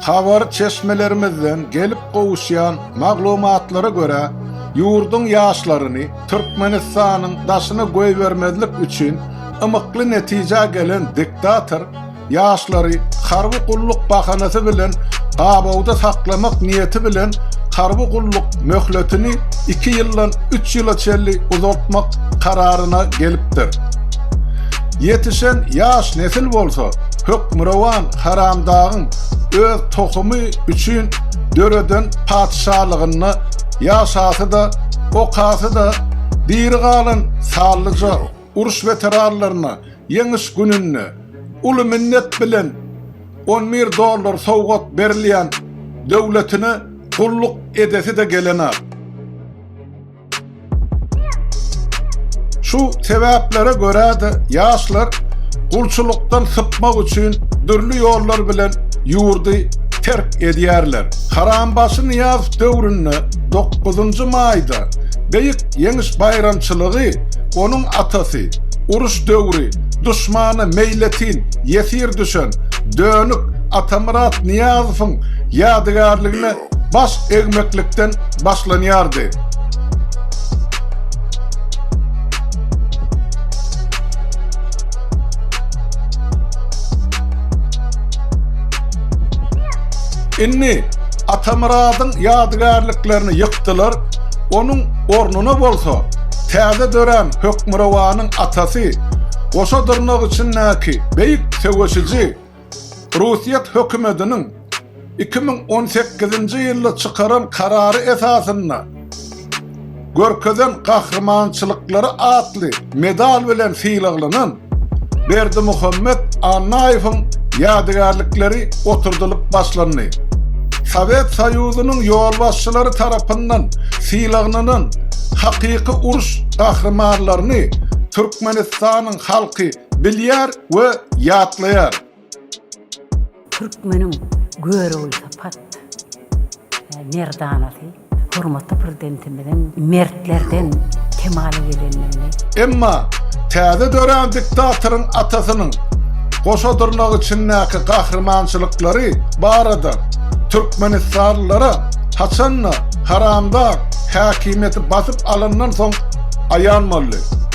Habar çeşmelerimizden gelip gowuşýan maglumatlara görä, ýurduň ýaşlaryny Türkmenistanyň daşyna goýbermezlik üçin ymykly netijä gelen diktator ýaşlary harby gulluk bahanasy bilen gabawda saklamak niýeti bilen harby gulluk möhletini iki ýyldan üç ýyla çenli uzaltmak kararyna gelipdir. Ýetişen ýaş nesil bolsa, Hökmürowan Haramdagyň öz tohumy üçin döreden patyşalygynda ýaşasy-da, okasy-da, diri galan sallyja uruş weteranlaryna Ýeňiş gününde uly minnet bilen on bir dollar sowgat berilýän döwletine gulluk edesi-de gelenok. Şu sebäplere görä-de ýaşlar gulçulykdan sypmak üçin dürli ýollar bilen ýurdy terk edýärler. Harambaşy Nyýazow döwründe 9-njy maýda Beýik Ýeňiş baýramçylygy onuň atasy, uruş döwri duşmana meýletin ýesir düşen Dönük Atamyrat Nyýazowyň ýadygärligine Baş egmeklikden başlanýardy. Indi Atamyradyň ýadygärliklerini ýykdylar, onuň ornuna bolsa täze dörän Hökmürowanyň atasy, goşa dyrnak içindäki beýik söweşiji Russiýet hökümetiniň iki müň on sekizinji ýylda çykaran karary esasynda görkezen gahrymançylyklary atly medal bilen sylaglanan Berdimuhamet Annaýewiň ýadygärlikleri oturdylyp başlandy. Sowet Soýuzynyň ýolbaşçylary tarapyndan sylaglanan hakyky uruş gahrymanlaryny Türkmenistanyň halky bilýär we ýatlaýar. Türkmeniň görogly sypat merdanasy hormatly Prezidentimiziň mertlerden kemala gelendigini. Emma täze dörän diktatoryň atasynyň goşa dyrnak içindäki gahrymançylyklary barada türkmenistanlylara haçan-da haramdag häkimiýeti basyp alandan soň aýan boldy.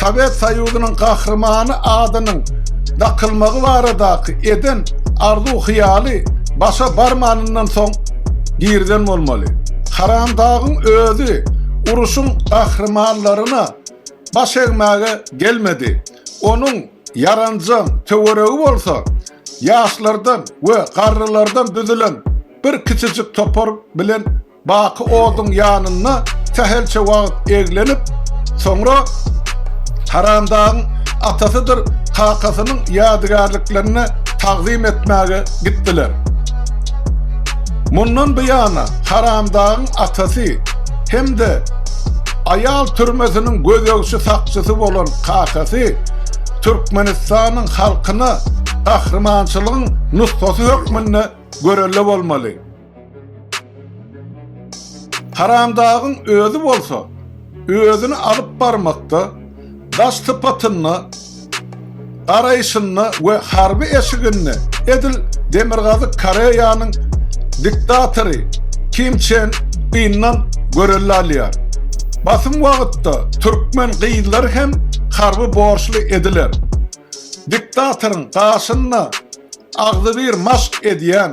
Sowet Soýuzynyň Gahrymany adynyň dakylmagy baradaky eden arzuw-hyýaly başa barmanyndan soň girizen bolmaly. Haramdagyň özi uruşyň gahrymanlaryna baş egmäge gelmedi. Onuň ýaranjaň töweregi bolsa ýaşlardan we garrylardan düzülen bir kiçijik topar bilen Baky oduň ýanynda sähelçe wagt eglenip, soňra Haramdagyň atasydyr kakasynyň ýadygärliklerini tagzym etmäge gitdiler. Mundan buýana Haramdagyň atasy hem-de aýal türmesiniň gözegçi sakçysy bolan kakasy Türkmenistanyň halkyna gahrymançylygyň nusgasy hökmünde görelde bolmaly. Haramdagyň özi bolsa, özüni alyp barmakda, daş sypatynda, garaýşynda we harby eşiginde edil Demirgazyk Koreýanyň diktatory Kim Çen Yndan görelde alýar. Basym wagtda türkmen gyzlar hem harby borçly ediler. Diktatoryň gaşynda agzybir maşk edýän